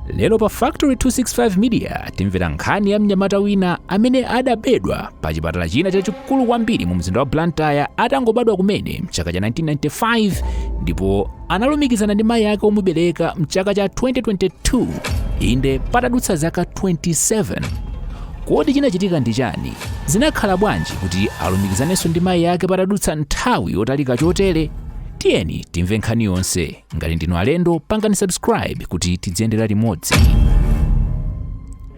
lero pa factory 265 media timvera nkhani ya mnyamata wina amene adabedwa pa chipatala china chachikulu kwambiri mu mzinda wa blantyre atangobadwa kumene mchaka cha 1995 ndipo analumikizana ndi mayi ake omubereka mchaka cha 2022 inde patadutsa zaka 27 kodi chinachitika ndi chani zinakhala bwanji kuti alumikizanenso ndi mayi ake patadutsa nthawi yotalika chotere tiyeni timve nkhani yonse ngati ndinu alendo pangani subscribe kuti tidziyendera limodzi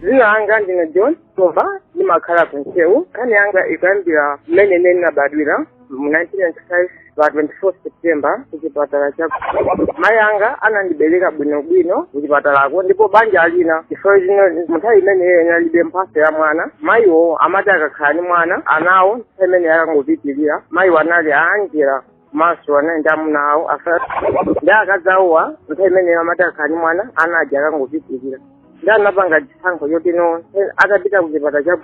Dzina langa ndine John Tumba ndimakhala ku Ntcheu. Nkhani yanga ikuyambira mmene ine ndinabadwira mu 1995 pa 24 September ku chipatala cha mayi anga anandibereka bwinobwino ku chipatalako ndipo banja lina chifukwa choti mu nthawi imeneyo inalibe mphatso ya mwana mayiwo amati akakhala ndi mwana anawo nthawi imeneyo ankangopitirira mayiwo anali aanjira komanso anali ndi amuna awo ndi akazi awowa nthawi imeneyo amati akakhala ndi mwana ana aja ankangopitirira nde anapanga chisankho choti no apite kuchipatala cha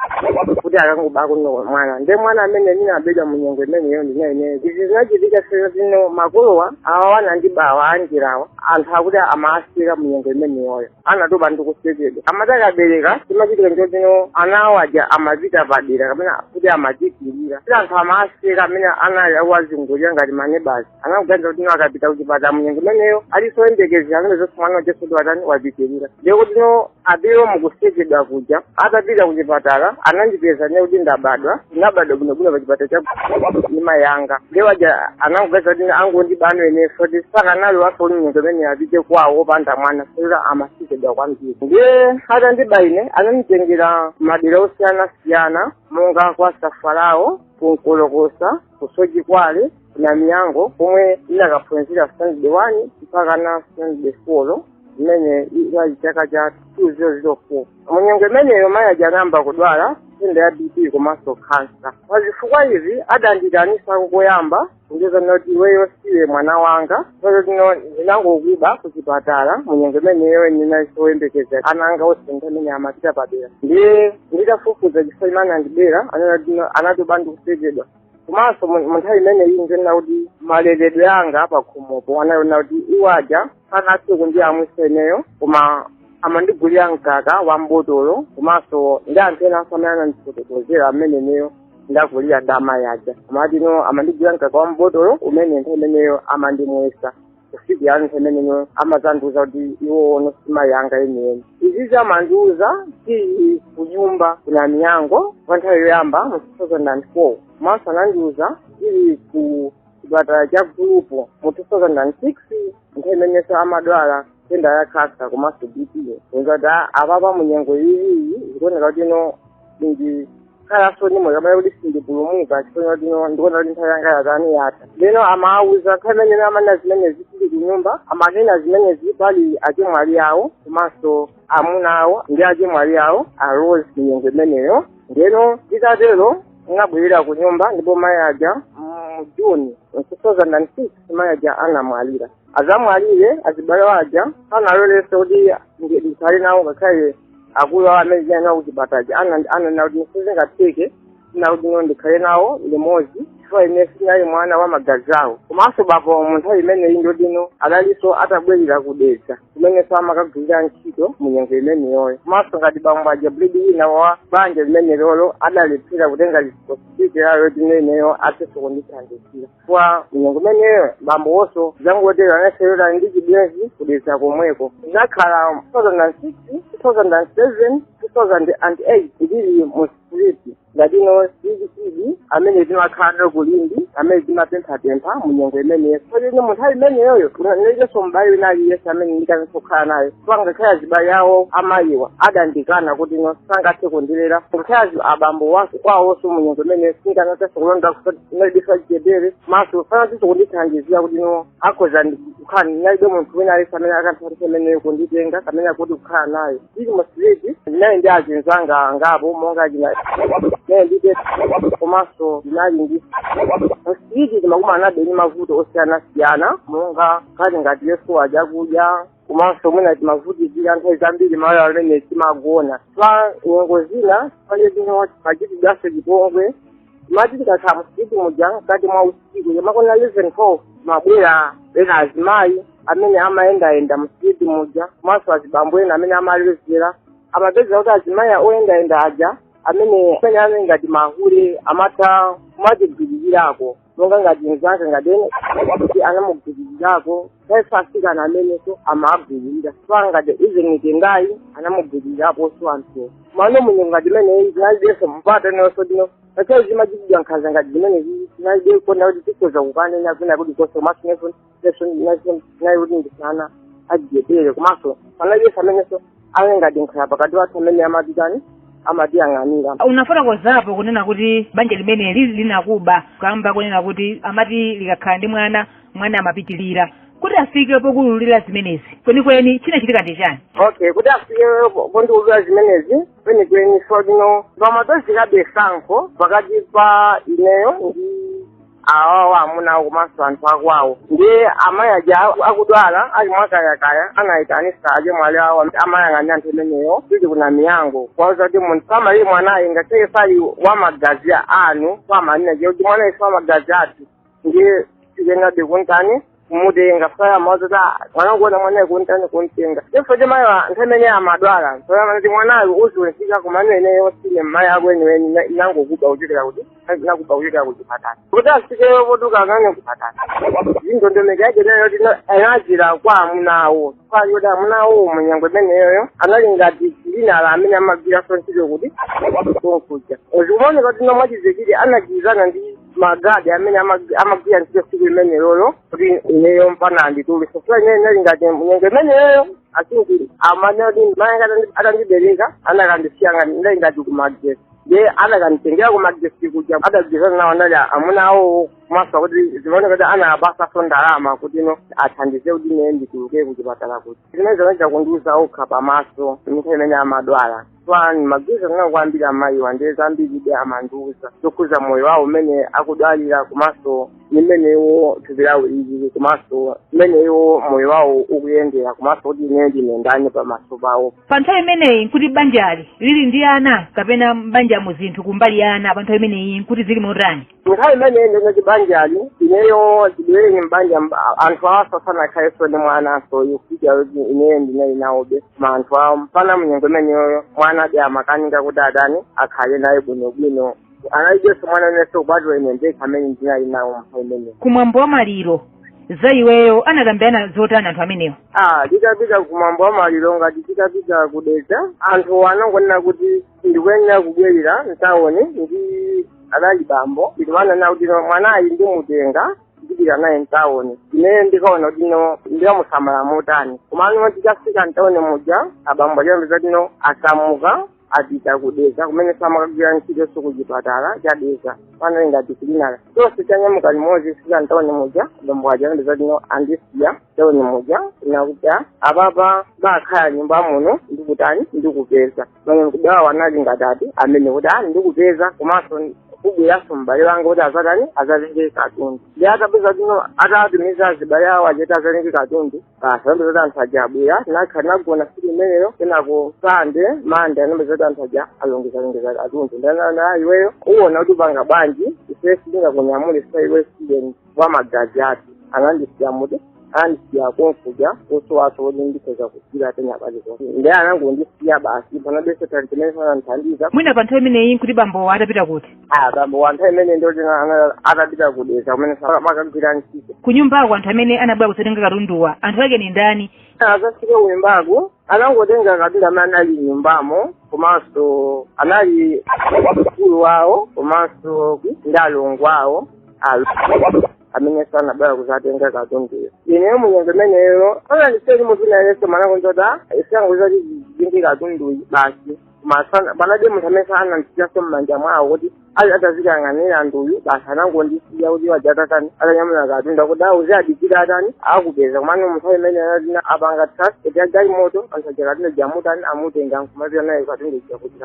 kuti akangobako no mwana ndi mwana amene ndinabedwa mu nyengo imeneyo ndinali ineyo izi zinachitika sino makolowa awa anandibawa anjirawa anthu akuti amawaseka mu nyengo imeneyoyo anatopa ndi kusekedwa amati akabereka chimachitika ndicho choti no ana awo aja amachita padera kapena kuti amapitirira kuti anthu amawaseka amene anawazungulira ngati manebazi anakaganiza kuti no akapita kuchipatala munyengo imeneyo alinso oyembekezera anaonanso mwana uja kuti watani wapitirira ndiye kuti no apewe mukusekedwa kuja atapita kuchipatala anandipeza ine kuti ndabadwa ndinabadwa bwinobwino pa chipatala cha ndi mayi anga nde iwo aja anangopeza kuti angondiba anaonetsa kuti sakanalolanso munyengo imene apite kwawo opanda mwana chifukwa amasekedwa kwambiri nde atandiba ine ananditengera madera osiyanasiyana monga kwa safalawo ku Nkolokosa ku Soche kwa Namiyango komwe ndinakaphunzira standard one mpaka na standard four imene inali chaka cha 2004 munyengo imeneyo mayi aja anayamba kudwala nthenda ya bp komanso kansa pa zifukwa izi adanditanisa koyamba kundiuza kuti iweyo siwe mwana wanga kwenikweni no ndinangokuba ku chipatala munyengo imeneyo ndinalinso oyembekezera ana anga onse ndi amene amachita padera ndiye nditafufuza chifukwa chimene anandibera anati anatopa ndi kusekedwa komanso mu mu nthawi imeneyi ndinena kuti maleredwe anga apakhomopo anayona kuti iwo aja sanathe kundiyamwisa ineyo koma amandigulira mkaka wa mbotolo komanso ndi anthu ena amene anandifotokozera amene ineyo ndakulira za mayi aja amati no amandigulira mkaka wa mbotolo umene nthawi imeneyo amandimwesa kufikira nthawi imeneyo amazandiuza kuti iwowo si mayi anga enieni izizi amandiuza tili kunyumba ku namiyango kwa nthawi yoyamba mu 2004 komanso anandiuza tili ku chipatala cha gulupu mu 2006 nthawi imenenso amadwala nthenda ya khansa komanso bp ngati apapa munyengo iyiyi zikuoneka kuti ino ndi khalanso ndi moyo kapena kuti sindipulumuka chifukwa choti no ndikuona kuti nthawi yanga yatani yatha ndeno amawuza nthawi imene amanena zimenezi tili kunyumba amanena zimenezi pali achemwali awo komanso amuna awo ndi achemwali awo a rose mu nyengo imeneyo ndeno titatero tinabwerera ku nyumba ndipo mayi aja mu juni 2006 mayi aja anamwalira atamwalira azibale awo aja sanalolenso kuti ndi- ndikhale nawo ngakhale akulu awo amene tinali nawo kuchipatala aja ananena kuti sizingatheke na kuti no ndikhale nawo limodzi chifukwa ine sinali mwana wa magazi awo komanso bambo mu nthawi imeneyi nkuti no adalinso atabwerera ku dedza kumenenso amakagwirira ntchito mu nyengo imeneyoyo komanso ngati bambo aja breadwinner wa banja limenelolo adalephera kutenga lisipoti layo kuti ineyo athe kundithandizira kwa nyengo imeneyoyo bambo awonso zangotero anaserera ndi chibwenzi ku dedza komweko ndinakhala 2006 2007 2008 ndili mu street ngati no street kid amene timakhala ku limbe amene timapemphapempha mu nyengo imeneyo koti no mu nthawi imeneyoyo ndinalibenso m'bale wina aliyense amene ndikanakhala naye so ngakhale azibale awo a mayiwa adandikana kuti no sangathe kundilera ngakhale abambowa kwawonso mu nyengo imeneyo sindikanathanso kulonda ndinalibenso chidedere komanso sanathenso kundithandizira kuti no akhoza kukhala ndinalibe munthu wina aliyense amene akanandithandiza amene kunditenga kamene akuti kukhala naye ndili mu street ndinali ndi azinzanga angapo monga china ndinali ndi tete komanso ndinali mu street ndimakumanabe ndi mavuto osiyanasiyana monga kati ngati kusowa chakudya komanso mwina timavutikira nthawi zambiri malo amene timagona pa nyengo zina palibe zino timachitidwanso chipongwe ngati tikakhala mu street muja mkati mwa usiku yamakona 11 12 amabwera ena azimayi amene amayendayenda mu street muja komanso azibambo ena amene amalezera amapezeka kuti azimayi oyendayenda aja amene amene ali ngati mahule amatha kumatigwiririrako monga ngati mzake ngati ene kuti anamugwiririrako saifasikana amenenso amagwiririra pa ngati izenitengayi anamugwiririrapo so anthu mano mu nyengo ngati imeneyi tinalibenso mpata woti no ngakhale timachitidwa nkhanza ngati zimenezi tinalibe kona kuti tikhoza kukanena kwina kuti konse komanso nefoni ndese nali kuti ndisana adyeteke komanso panalibe amenenso ali ngati nkhala pakati pathu amene amatitani amatiyang'anira unafotokozapo kunena kuti banja limene lija linakuba kamba kunena kuti amati likakhala ndi mwana mwana amapitirira kuti afike pokuululira zimenezi kwenikweni chinachitika ndi chiyani okay kuti afike pondiulula zimenezi kwenikweni zoti no pamapezekabe tsankho pakati pa ineyo ndi awawa amuna awo komanso anthu akwawo ndiye amayi aja akudwala ali mwakayakaya anayitanitsa achemwali awo amayang'anira anthu imeneyo tili kuna miyango kwauza kuti munthu samalire mwanayi ngakhale sali wa magazi anu kumanena kuti mwanayi si wa magazi athu ndiye tikuyenerabe kumtani kumutenga paya mawazo kuti "Ah, mwana wangu wena mwanayo kuntani kumtenga chifukwa cha mayi wa- nthawi imene amadwala ntoyama kuti mwanayo uzionetsa kumano ineyo sindine mayi ako eniweni ndinangokuba kuchokera kuti ndinakuba kuchokera kuchipatala kuti afike potuluka amene kuchipatala indondomeko yake nayo yoti no- anachita kwa amunawo ya yoti amunawo munyengo imeneyoyo anali ngati cleaner amene amagwiranso ntchito kuti konkuja zikumaoneka kuti no mwachidziwikire anagwirizana ndi magadi amene ama- amagwira ntchito tsiku limenelolo kuti ineyo mpaka anditulutse chifukwa ineyo ndinali ngati nyengo imeneyoyo asinji amanena kuti mayi atandi- atandibereka anakandisiya ngati ndali ngati kumagesi ndiye anakanditengera kumagesi kuja adagwirizana nawo anali amuna awo kumatha kuti zimaoneka kuti anapatsanso ndalama kuti no athandize kuti ine ndituluke kuchipatala kuti zimene zinali zakundiuza okha pamaso mu nthawi imene amadwala twani magwizo kunena kwambiri amayiwa ndiye zambiribe amandiuza zokhudza moyo wawo umene akudwalira komanso mmene iwo thupi lawo lilili komanso mmene iwo moyo wawo ukuyendera komanso kuti ine ndine ndani pamaso pawo pa nthawi imeneyi nkuti banjali lili ndi ana kapena mbanjamo zinthu kumbali ya ana pa nthawi imeneyi nkuti zili motani nthawi imene ndinali mbanjali ineyo chibereke mbanja anthu awanso sanakhalenso ndi mwana kusonyeza kuti ineyo ndinali nawobe ma anthu awo mpana mnyengo imeneyoyo mwanadi amakanika kuti atani akhale naye bwinobwino analibenso mwana winanso kupatula ine ndekha amene ndinali nawo nthawi imeneyo kumwambo wa maliro za iweyo anakambirana zotani anthu amenewo ah tikapita kumwambo wa maliro ngati titapita kudedza anthu anangonena kuti ndikuyenera kubwerera mtawoni ndi anali bambo ndikunena awo kuti no mwanayi ndimutenga ndipita naye mtawuni ineyo ndikaona kuti no ndikamusamala motani komano titafika mtawuni muja abambo anapeza kuti no asamuka apita ku Dedza kumene samakagwira ntchito nso kuchipatala cha Dedza pano ngati cleaner tonse tinanyamuka limodzi kufika mtawuni muja abambo aja anapeza kuti no andisiya mtawuni muja nakuti apapa bakhalani nyumba muno ndikutani ndikupeza bamwe kudawa anali ngati ati amene kuti ali ndikupeza komanso kubweranso m'bale wanga kuti azatani azatenge katundu ndiye atapeza tino atatumiza azibale awo aja kuti azatenge katundu basi ambe zoti anthu aja abwera anakhala nagona siku imeneyo kenako sande mande anangomva zoti anthu aja alongezalongeza katundu ndiye ananena iweyo uwona kuti upanga bwanji ife sitingakunyamule sa iwe student kwa magazi ake anandisiya muti anandisiya konkuja kosowaso kuti ndikhoza kugwira pena paliponse ndiye anangondisiya basi panalibeso anthu ameneso anandithandiza mwina pa nthawi imeneyi nkuti bambowa atapita kuti bambowa nthawi imeneyi ndi kuti atapita ku dedza kumene amakagwira ntchito kunyumbako anthu amene anabwera kudzatenga katunduwa anthu ake ndi ndani azafike kunyumbako anangotenga katundu amene anali m'nyumbamo komanso anali mkulu wawo komanso ndi alongo awo ameneso anabwera kuzatenga katunduyo ineyo munyengo imeneyo anandiseli munthu nayeso manakonzota isangoza kuti zizindi katunduyi basi koma panalibe munthu amene anandisiyaso mmanja mwawo kuti ali atazikang'anira anthu uyu basi anangondisiya kuti aja atatani atanyamula katundu kuti auzi adikira atani akupeza komano munthawi imene anatina apanga trust kuti ajali moto anthu aja katundu uja amutani amutenga nkumapita naye katundu uja kuti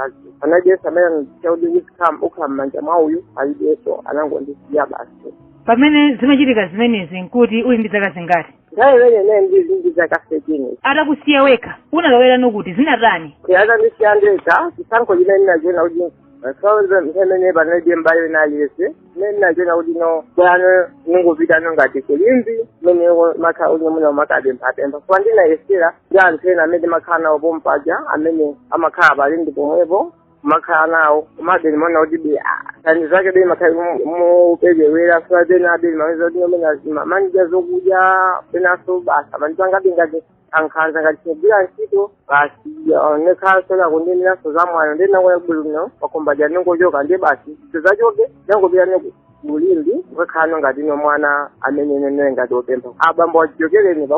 panalibeso amene anachita kuti iwe ukhala m'manja mwa uyu panalibenso anangondisiya basi pamene zimachitika zimenezi nkuti uli ndi zaka zingati nthawi imeneyo ine ndili ndi zaka thirteen atakusiya wekha unalowerano kuti zinatani atandisiya ndekha chisankho chimene ndinachiwona kuti sonse msemene panalibe mbali ina iliyonse imene ndinachiwona kuti ndi bwino ndingopitano ngati ku limbe kumene ndimakhala kuti mwina ndimakapemphapempha koma ndinayesera ndi anthu ena amene makhala nawo pompaja amene amakhala pa limbe pomwepo kumakhala nawo komabe ndimaona kuti be tani zake be ndimakhala moperewera sula pena abe ndimaweza kuti nomena manija zokudya penaso basi abantu angabe ngati ankhanza ngati tinogwira ntchito basi nekhaso nakundimiranso za mwana ndi nangoya kubulumino pakhomo paja ndingochoka ndiye basi tizachoke ndinangopita ine mu limbe nkakhalano ngatino mwana amene nene ngati opempha abambo chichokereni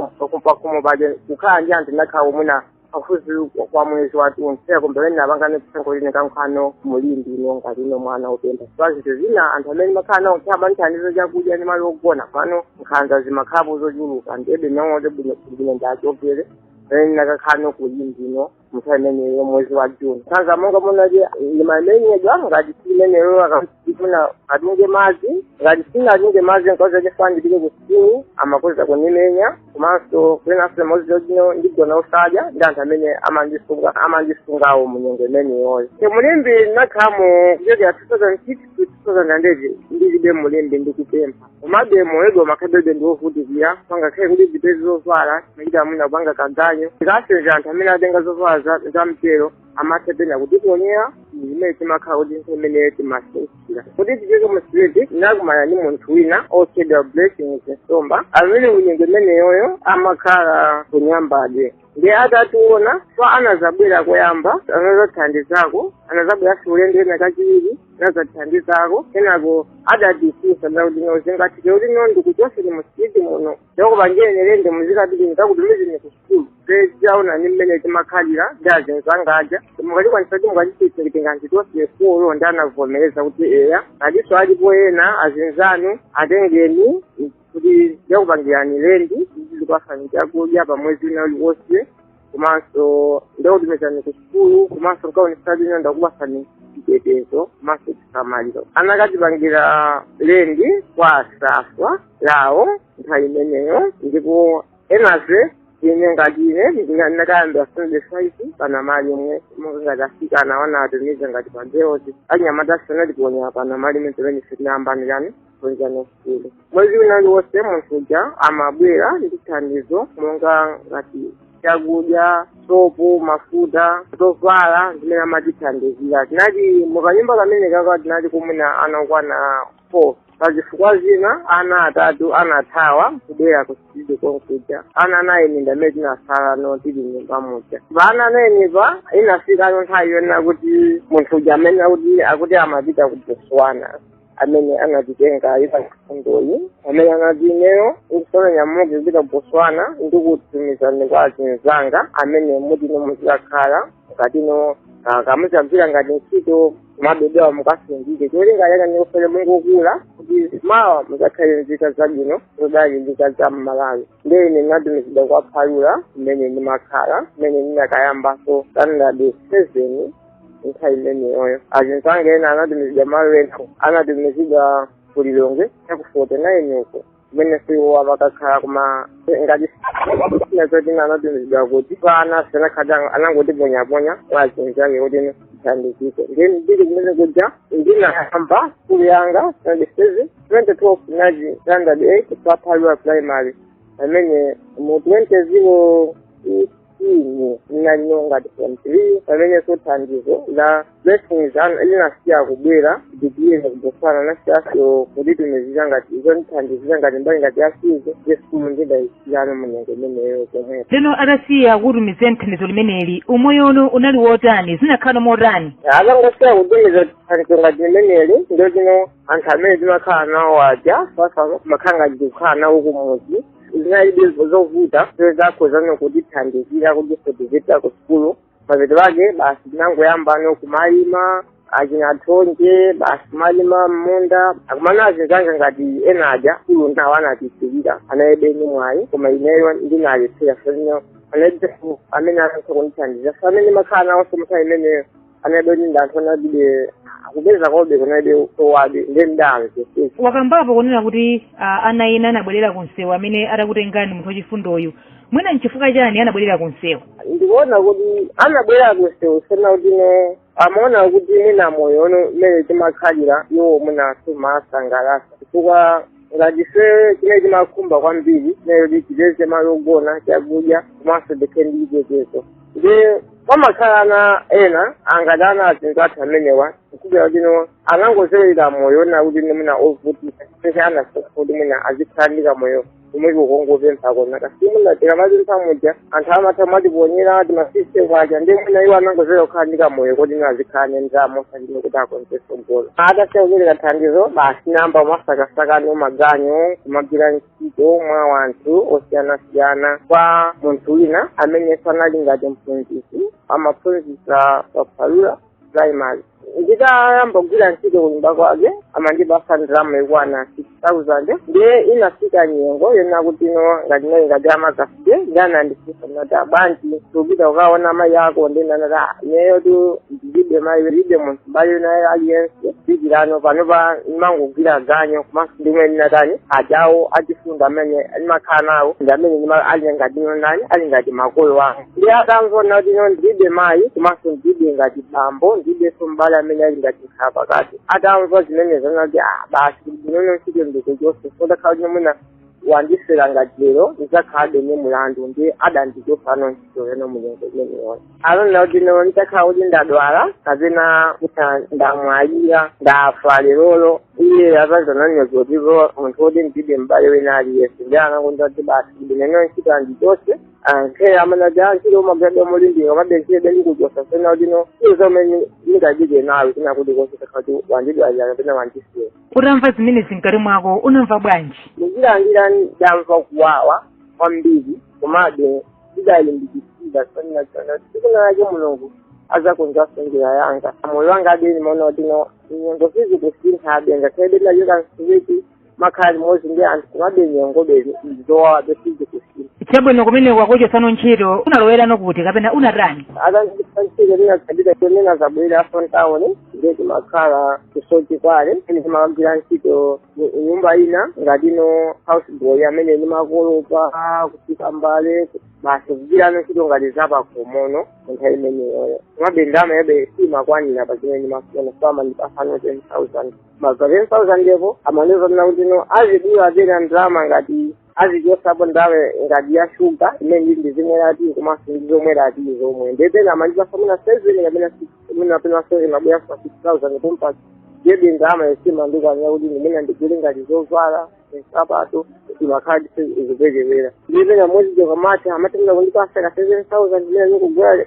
pakhomo paja kukhala ndi anthu munakhalako mwina pafupi wa- kwa mwezi wathunthu komabe ine ndinapanga chisankho choti ndikakhaleno mu limbe muno ngatino mwana opempha pa zinthu zina anthu amene ndimakhala nawo ankatha kundithandiza chakudya ndi malo ogona komano nkhanza zimakhalapo zochuluka ndiyebe ndinaona kuti bwino bwino ndachopere pamene ndinakakhalano ku limbe kuno munthawi imeneyo mwezi wa juni nkhanza monga munaje ndimamenyedwa ngati siku limenelo akafuna atunge madzi ngati sindinatunge madzi nkoza chifani ndipite ku sukulu amakhoza kundimenya komanso siku linanso limodzi lotino ndigona osadya ndi anthu amene amandisunga amandisungawo mu nyengo imeneyoyo e mu limbe ndinakhalamo kuchokera 2006 to 2008 ndilibe mu limbe ndikupempha komabe moyo umakhalabe ndiwovutikira angakhale kuti ndizipeze zovala ndimachita mwina kupanga kaganyu ndikasenza anthu amene atenga zovala za- za m'belo amatha pena kutiponyera zimene zimakhala kuti imene timasowekera kuti tichoke mu street nakumana ndi munthu wina otchedwa Blessings nsomba amene kunyengo imeneyoyo amakhala kunyambadwe ndiye atationa ife anazabwera koyamba anazatithandizako anazabweranso ulendo wina kachiwiri anazatithandizako kenako adatitsitsa kuti no zingatheke kuti no ndikuchoseni mu street muno ndikakupangireni lendi muzikapiti ndikakutumizeni ku atationa ni mmene timakhalira ndi azinzanga aja mukatikwanisa kuti mukatitenga tonse ifulu ndi anavomereza kuti eya aliso alipo ena azinzanu atengeni kuti ndikakupangirani lendi ndikupasani chakudya pa mwezi wina uliwonse komanso ndikakutumizani ku sukulu komanso nkaonesa kuti ndakupasani chitetezo komanso chisamaliro anakatipangira lendi kwa safalawo nthawi imeneyo ndipo enafe ine ngati ine ndinakayamba standard five pa namalimwe ngati afika anaona atumize ngati padeoti anyamata asana tiponya pa namalimwe pamene ife tinayambano sukulu mwezi wina uliwonse munthu uja amabwera ndi thandizo monga ngati chakudya sopo mafuta zovala zimene amatithandizira tinali mukanyumba kamene kaja tinalimo mwina ana okwana four pa zifukwa zina ana atatu anathawa kubwera ku street konkuja ana anayi ndi amene tinasalano tili mnyumba muja pa ana anayi apa inafikano nthawi yonena kuti munthu uja amene akuti amapita ku botswana amene anatitenga mwa chifundoyu amene anati ineyo ndikufuna ninyamuke kupita ku botswana ndikutumizani kwa azinzanga amene kuti no muzikakhala ngati no kumakagwira ngati ntchito kumabebewa mukasungike cholinga chake ndikufuna mungokula kuti mawa muzakhale nzika zabwino zodalilika za mmalawi ndiye ine ndinatumizidwa kwa phalula kumene ndimakhala kumene ndinakayambaso standard seven nthawi imeneyoyo azinzanga ena anatumizidwa malo ena ena anatumizidwa kulilongwe yaku forty nine uko kumene iwowo amakakhala koma ngati ena oti anatumizidwa kuti pana sanakhale anangotiponyaponya kwa azinzake kuti tithandizike nde ndili kumene kuja ndinayamba skulu yanga standard seven twenty twelve naji standard eight pa phalula primary pamene mu twenty zero ine ndinalino ngati form three pamene so thandizo la blessings ano linasiya kubwera ali ku botswana anasiyaso kunditumizira ngati zondithandizira ngati mbali ngati ya fizi nde sukulu ndidayisiyano munyengo imeneyo pomwepo ndiyeno atasiya kutumiza thandizo limeneli umoyo wanu unali wotani zinakhala motani atangosiya kutumiza thandizo ngati limeneli ndiyeno anthu amene timakhala nawo aja amakhala ngati tikukhala nawo kumuzi zinalibe zovuta zokha zinakhozana kutithandizira kutipititsa ku sukulu mapeto ake basi ndinangoyambano kumalima achina thonje basi kumalima m'munda akumana azinzanga ngati ena aja sukulu nawo anasiyira analibe ndi mwayi koma ineyo ndinalephera so analibe amene anafuna kundithandizira so amene ndimakhala nawonso nthawi imeneyo anaibe kuti ndi anthu analidi akupeza komabe kunalibe osowabe ndiye mnzanga wakambapo kunena kuti ah, ana ena anabwerera ku msewu amene atakutengani munthu wachifundoyu mwina nchifukwa chani anabwerera ku msewu ndikuona kuti anabwerera ku msewu ponena kutino amaona kuti mwina moyo uno mmene timakhalira uwo mwina sumawasangalatsa chifukwa ngati ife chimene timakhumba kwambiri ndi choti tipeze malo ogona chakudya komanso tikhale ndi chitetezo ndiye pamakhala ana ena ngati ana anzathu athu amenewa kukhulupirira kutino anangozolowera moyo wonena kutino mwina ovutisa pese anasosa kuti mwina azikhala ndi kamoyo ka moyo wongopempha komanso mwina tikamapempha muja anthu amatha kumatiponyera timafive kwacha ndi mwina iwo anangozolowera kukhala ndi kamoyo kutino azikhala ndi ndalama osati kuti akonze tsogolo atasiya kupereka thandizo basi ndinayamba kumasakasakano maganyu kumagwira mwa anthu osiyanasiyana kunali munthu wina amene anali ngati mphunzitsi amaphunzitsa pa Palula primary nditayamba kugwira ntchito kunyumba kwake amandipasa ndalama yokwana 6000 nde inafika nyengo yonena kutino ngati ndani ngati amagafa nde anandifunsa nati bwanji sukupita kukaona mayi ako ndiye ndinati ineyo tu ndilibe mayi ndilibe munthu m'bale wina aliyense kutereko panopa ndimangogwira ganyo komanso ndi mwina andani ajawo achifunda amene ndimakhala nawo ndi amene ndima- ali ngati ndani ali ngati makolo anga ndiye atamva zonena kutino ndilibe mayi komanso ndilibe ngati bambo ndilibenso m'bale amene ali ngati nkhala pakati atamva zimenezo anati ah basi kutino ntchito ndikuchotse utakhala kuti mwina wandifera ngati lero ndidzakhalabe ndi mulandu ndiye adandichotsano ntchito kena mu nyengo imeneyo anaona kutino nditakhala kuti ndadwala kapena kuti ndamwalira ndafa lerolo iye adzatani naye poti ndi munthu woti ndilibe m'bale wina aliyense ndiye anangoti basi ineno ntchito andichotse ngakhale amanati antchito umagwira molimbika komabe ndikuchotsa ponena kutino zimene ndingachite nawe ndi zonena kuti utakhala kuti wandidwalira kapena wandifera utamva zimenezi mkati mwako unamva bwanji ndinachilandira ndinamva kuwawa kwambiri komabe ndidalimbikira chifukwa ndinaona kuti tsiku lina lake mulungu azakonzanso njira yanga moyo wanga komabe ndimaona kutino nyengo sizikusintha komabe ngakhale tinachoka mu street timakhala limodzi ndi anthu komabe nyengo be zowawabe sizikusintha chabwino kumene atakuchosano ntchito unalowerano kuti kapena unatani atandichosa ntchito ndinakhalira ndinazabwera ku town ndiye timakhala ku Soche komwe ndimakagwira ntchito mu- nyumba ina ngati no house boy amene ndimakolopa kusuka mbale basi kugwirano ntchito ngati zapakhomono munthawi imeneyoyo komabe ndalama yake simakwanira pa zimene ndimafuna amandipasano ten thousand pa ten thousand po amandiuzano kuti no azidula pena ndalama ngati azichosapo ndalama ngati ya shuga imene ndizimwera tiyi komanso ndi zomwera tiyi zomwe ndiye pena amandipasa mwina seven kapena mwina penaso imabwera pa six thousand pompa ndiye ndalamayo simandikwanira kuti mwina ndigule ngati zovala nsapato imakhala ikuperewera ndiye pena mwezi ukamatha amatha kundipasa ka seven thousand imene ndizigula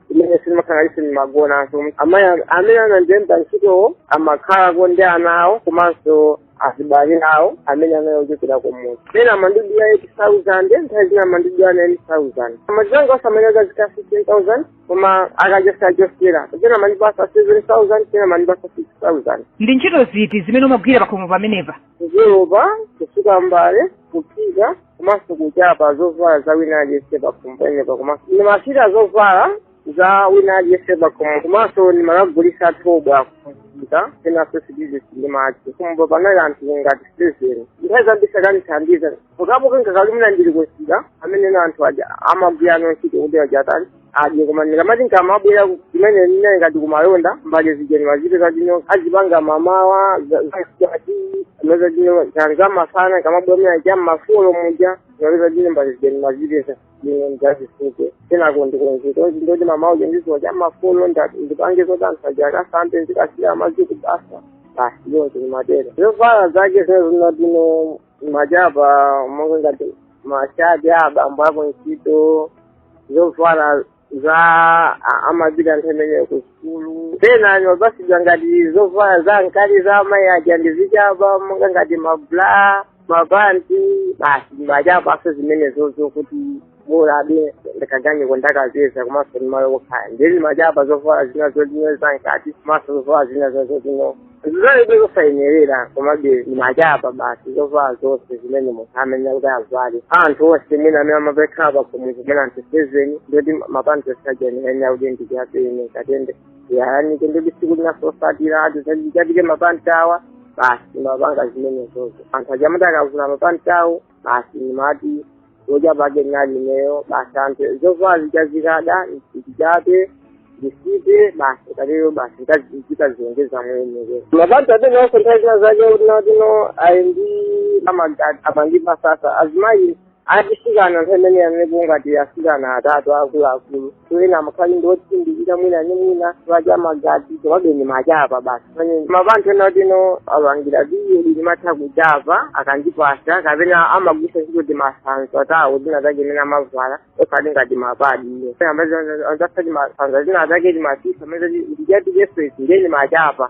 kumene mumakhalako simumagonanso amayi am- amene anandilemba ntchitowo amakhalako ndi ana awo komanso azibale awo amene anali ochokera kumudzi pena amandidula 8000 nthawi zina amandidula 9000 ndalama zimene zazikhala 15000 koma akachosachosera pena amandipasa 7000 pena amandipasa 6000 ndi ntchito ziti zimene umagwira pakhomo pamenepa kukolopa kusuka mbale kuphika komanso kuchapa zovala za wina aliyense pakhomo pamenepa komanso ndimachapa zovala za wina aliyense pakhomo komanso ndimakagulitsa thobwa kuphika penanso ma freezes ndi madzi pakhomopo panali anthu ngati seveni nthawi zambiri sankandithandiza mukaphika nkakhala kuti ndili kumsika amenewa anthu aja amagwirano ntchito kuti aja atani adye koma ndikamati ndikamabwera kumeneko ngati kumalonda mbali zija ndimazipeza zomwe azipanga mamawa zati ameza zino zanga masana ndikamabwera muja aja ma four muja zaleza zino mbali zija ndimazipeza zino ndizisuke kenako ndikunzika onzi ndoti mamawa uja ndizuke cha ma four ndipange zodansa aja akasambe ndikasiye madzi kubafa basi ndimatenga zovala zake zino zinatino ndimachapa monga ngati mashati a abambo ako ntchito zovala za a- amapita nthawi imeneyo ku sukulu pena ndimapasidwa ngati zovala za mkati za amayi aja ndizichapa monga ngati mabla mapanti basi ndimachapanso zimenezo kuti bola ndi kaganyu kandalamazo komanso ndi malo okhala ndimachapa zovala zina zoti no zamkati komanso zovala zina zoti no zinali zosayenerera komabe ndimachapa basi zovala zonse zimene munthu amayenera kuti avale anthu onse mwina amene amakhala pakhomo kumene anthu seveni ndiye kuti mapanti osayenera kuti ndichape kenako ndikayanike ndiye kuti siku linanso lotsatira atachotse mapanti awa basi ndimapanga zimenezo anthu aja amati akavula mapanti awo basi ndimati kudya pake ndinali ineyo basi anthu zovala zikazikada ndichape ndisite basi kalero basi ndimazikakamiza mwene mabati amene onse nthawi zina zake mwina tino ali ndi amagati apangipa sasa azimayi atsikana nthawi imene amene kuli ngati atsikana atatu akuluakulu toyena mukhali ndi otsindikira mwina ni mwina timadya magazi timade ndimachapa basi pamene pa anthu ena oti no apangira piyedi ndimatha kuchapa akandipasa kapena amagwisa ntchito timasanza tawo tina take timene amavala osati ngati mapadi iyo amapazaka timasanza zina zake timasisa amene tichatichefesi nde ndimachapa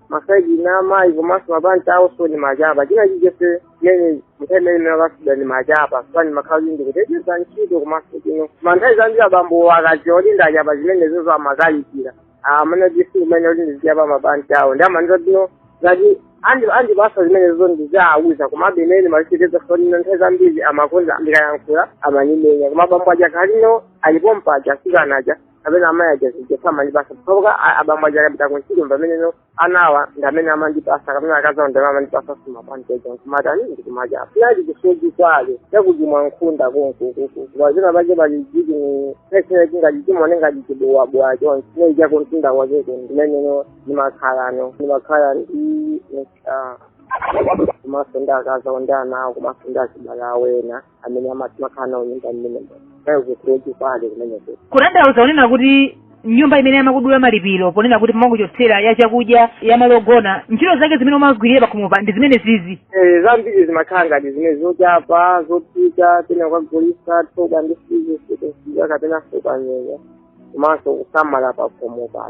masaidi a amayi komanso mapanti awonso ndimachapa china chilichonse chimene munthawi imene imene akasida ndi machapa sani makhala kuti ndikuteteza ntchito komano nthawi zambiri abambo akadziwa kuti ndachapa zimenezozo amakalipira amene kuti sikumene kuti ndizichapa mapanti awo nde amandiuza kuti no ngati andi- andipasa zimenezo ndizawauza komabe imene malichiteza sonino nthawi zambiri amakonda ndikayankhula amandimenya koma abambo aja akakhala kuti alipompaja atsikana aja kapena amayi aja zija samandipasa pokhapokha abambo aja akapita kuntchito pameneno ana awo ndi amene amandipasa kapena akazi awo ndi amene amandipasa kumapanganso nkumatani ndikumachapa chinali chisoti kwale chakuti ngwa nkhunda kunsi kukuku wazina pache pali jiti ni pesina chingati chimone ngati chibuwabuwa chonchi chimene chakumtunda kwacheko ndi mmeneno ndimakhalano ndimakhala ndi ah, komanso ndi akazi awo ndi ana awo komanso ndi azibale awo ena amene amakhala nawo nyumba mmenemo nayo kusiya chipande kumeneko kutanthauza kunena kuti nyumba imene yamakudula malipiro ponena kuti amangochotsera ya chakudya ya malo ogona ntchito zake zimene mumagwira pakhomopa ndi zimene ziti Eh, zambiri zimakhala ngati zimene zochapa zophika pena kukagulisa thobwa ndi fizesi kusiya kapena kuphika nyemba komanso kusamala pakhomopa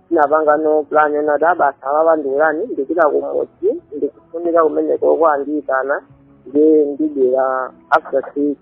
ndinapangano plan yonena kuti abasa ababa ndiuzeni ndipita kumudzi ndikufunika kumeneko kwandiyitana nde ndibwera after six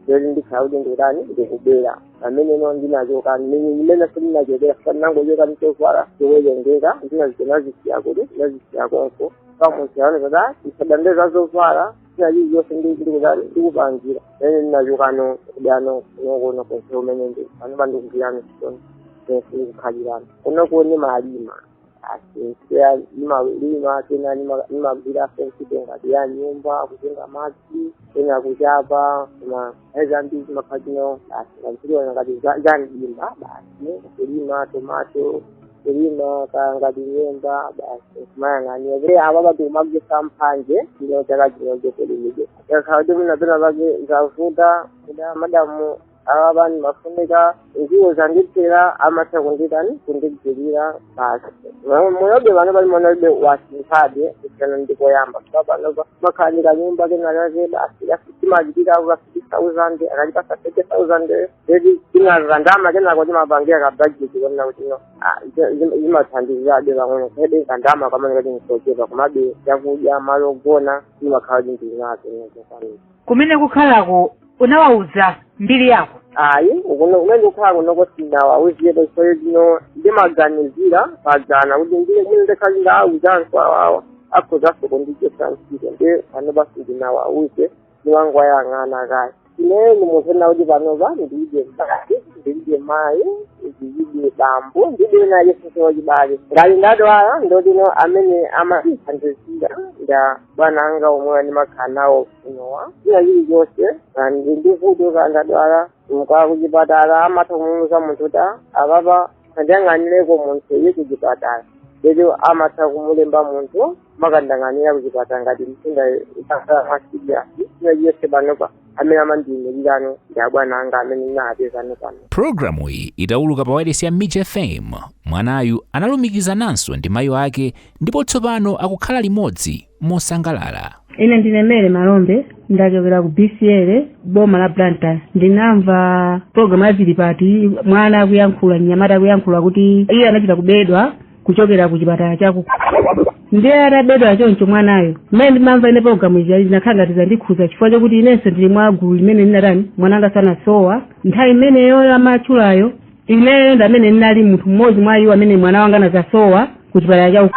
lero ndikhala kuti ndikutani ndikubwera pameneno ndinachoka ndi mmenenso ndinachokera basi ndinangochoka ndi zovala zowerengeka zina ndinazisiya kuti ndinazisiya konko kumusiya aoneke kuti asadandaule za zovala china chilichonse ndi ndikuza ndikupangira ene ndinachokano kudzano kunokono komwe kumene ndi panopa ndikugwirano ntchito ndi komwe ndikukhalirano kunoko ndimalima basi pena ndimalima pena ndima- ndimagwira ntchito ngati ya nyumba kutunga madzi pena kuchapa koma zambiri zimakhala zimenezo basi kantiliona ngati za- za mdimba basi kulima tomato kulima ka ngati nyemba basi kumayang'ania zija apa basi kumagwetsa mphanje ino chaka chino chokulimidwa yakhala kuti mwina pena pake zavuta mudaa madamu awa pani mafunika ndiwo zandithera amatha kunditani kundigwirira basi moyobe pano pang'onobe wasinthabe kusiyana ndi koyamba kuti panopa ndimakhala ndi kanyumba kenalake basi ndimachita ka fifty thousand akandipasa thirty thousand eti tinakandama kenako timapangira ka budget kuona kuti no ah, zi- zi- zimathandizabe pang'ono koma kandama kameneka ndi kochepa komabe chakudya malo ogona ndimakhala ndithu ndinazo zokwanira kumene kukhalako unawauza mbiri yako ayi ukuno kumene ndikukhala kunoko sindinawauzepo chifukwa chomwe ndimaganizira panja kuti ine mmene ndikhala ndawauza anthu awawa akhozaso kundichosa ntchito ndi panopa sindinawauze ndimangowayang'ana kaye ineyo ndi munthu ena kuti panopa ndilibe mbale ndilibe mayi ndilibe bambo ndilibe wina aliyense wachibale ngati ndadwala ndotani amene amandithandizira nda bwana anga omwe ndimakhala nawo kunowa china chilichonse ndi ndi vuto kaya ndadwala nkakhala kuchipatala amatha kumuuza munthu kuti apapa akandiyang'anireko munthu iye kuchipatala eti amatha kumulemba munthu amakandiyang'anira kuchipatala ngati mtunda ukakhala masidyasi china chilichonse panopa amene amandiyimira ndi abwana anga amene ndinawapezawa pano pulogalamu iyi itawuluka pa wailesi ya mij fm mwanayu analumikizananso ndi mayi ake ndipo tsopano akukhala limodzi mosangalala ine ndine Mary Malombe ndachokera ku bcl boma la blantyre ndinamva pulogalamu ya zilipati mwana akuyankhula mnyamata akuyankhula kuti iye anachita kubedwa kuchokera ku chipatala chaku ndiye atabedwa choncho mwanayo mmene ndimamva ine pulogalamu ija zinakhala ngati zandikhuza chifukwa chakuti inenso ndili mwa gulu limene linatani mwana wanga anasowa nthawi imeneyo amatchulayo ineyo ndi amene ndinali munthu mmodzi mwa iwo amene mwana wanga anazasowa ku chipatala chaku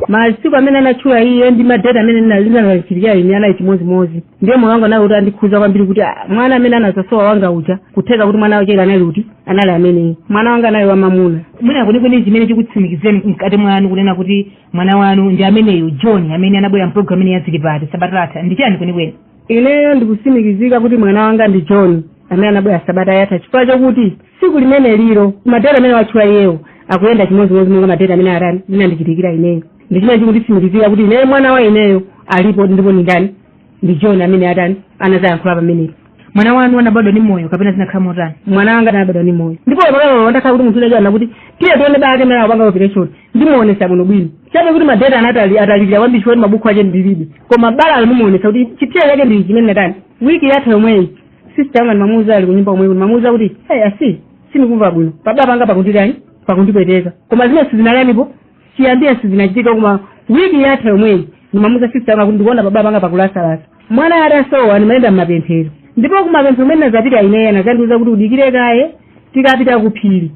masiku amene anatchula iye ndi madeti amene zinali zinandichitikira ine anali chimodzimodzi ndiye moyo wanga unali woti unandikhuza kwambiri kuti ah, mwana amene anazasowa wanga uja kutheka kuti mwana wacheyo anali kuti anali ameneyi mwana wanga anali wamamuna mwina kwenikweni chimene chikutsimikizeni mkati mwanu kunena kuti mwana wanu ndi ameneyu john amene anabwera mpulogalamu imene ya zilipati sabata latha ndi chani kwenikweni ineyo ndikusimikizika kuti mwana wanga ndi john amene anabwera sabata yatha chifukwa chakuti tsiku limenelilo madeti amene watchula iyeyo akuyenda chimodzimodzi monga madeti amene atani zinandichitikira ineyo ndi chimene chikunditsimikizira kuti ineyo mwana wa ineyo alipo ndipo ndi ndani ndi john amene atani anazayankhula pamenepo mwana wanu anabadwa ndi moyo kapena zinakhala motani mwana wanga anabadwa ndi moyo ndipo pakali patakhala kuti munthu wina atanena kuti tiye tione bala limene anakupanga operation ndimuonesa bwino bwino chabe kuti madeti anatalika atalikira kwambiri chifukwa mabuku ache ndilibe koma balalo ndingamuonese kuti chipsera chake ndi ichi chimene ndatani wiki yatha yomweyi sister yanga ndimamuuza ali kunyumba komweko ndimamuuza kuti hey asisi sindikumva bwino pabala panga pakunditani pakundipweteka koma zimene sizinatanipo chiyambire sizinachitikepo koma wiki yatha yomweyi ndimamuza sista yanga kuti ndikuona pabodi panga pakulasalasa mwana atasowa ndimayenda mmapemphero ndipo kumapemphero kumene nazapita ineyo anazandiuza kuti udikire kaye tikapita ku phiri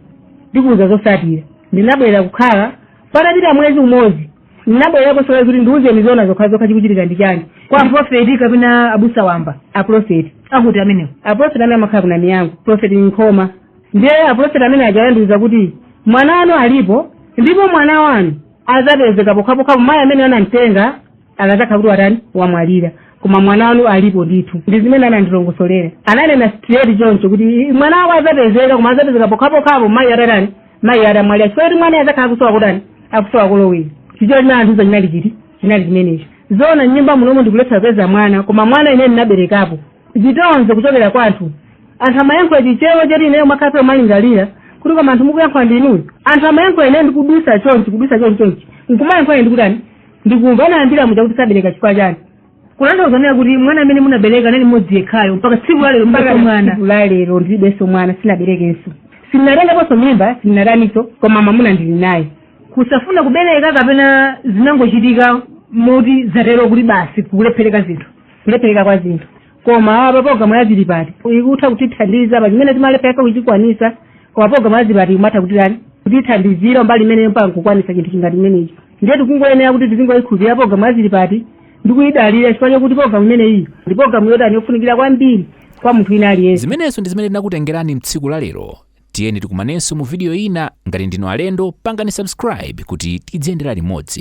ndikuuza zosatira ndinabwera kukhala patapita mwezi umodzi ndinabwererakonso kuti ndiuzeni zona zokhazokha chikuchitika ndi chani kwa profeti kapena abusa wamba aprofeti akuti amenewo aprofeti amene amakhala kuna miyango aprofeti nkhoma ndiye apulofeti amene aja anandiwuza kuti mwana wanu alipo ndipo mwana wanu adzapezeka pokhapokhapo mayi amene anamtenga akadzakhala kuti watani wamwalira koma mwana wanu alipo ndithu ndi zimene anandilongosolera ananena straight choncho kuti "I- mwana wako adzapezeka koma adzapezeka pokhapokhapo mayi atatani mayi atamwalira chifukwa choti mwana adzakhala akusowa kutani akusowa kolowera chimene anandiuza chinali chiti chinali chimenecho zona nyumba munomo ndikulephera kupeza mwana koma mwana ine ndinaberekapo chitonzo kuchokera kwa anthu anthu amayankhula chichewa choti ineyo ndimakhala ndikumalingalira kuti koma anthu mukuyankhula ndi inuyo anthu amayankhula ineyo ndikudusa chonchi kudusa chonchi chonchi nkumayankhula ine ndikutani ndikumva anayambira muja kuti sabereka chifukwa chani kutanthauza kunena kuti mwana amene munabereka anali mmodzi yekhayo mpaka tsiku lalero mpaka na lero ndilibenso mwana sinaberekenso sinatengaponso mimba sinataniso koma mamuna ndili naye kusafuna kubereka kapena zinangochitika moti zatero kuti basi kulephereka zinthu kulephereka kwa zinthu koma pa programu ya zilipati ikutha kutithandiza pa chimene timalephereka kuchikwanisa koma programu ya zilipati imatha kutani kutithandizira mbali imene mpaka kukwanisa chinthu ngati chimenechi ndiye tikungoyenera kuti tizingoyikhulupirira programu ya zilipati ndi kuyidalira chifukwa chakuti programu imeneyi ndi programu yotani yofunikira kwambiri kwa munthu wina aliyense zimenezo ndi zimene tinakutengerani mtsiku la lero tiyeni tikumanenso mu vidiyo ina ngati ndinu alendo pangani subscribe kuti tidziyendera limodzi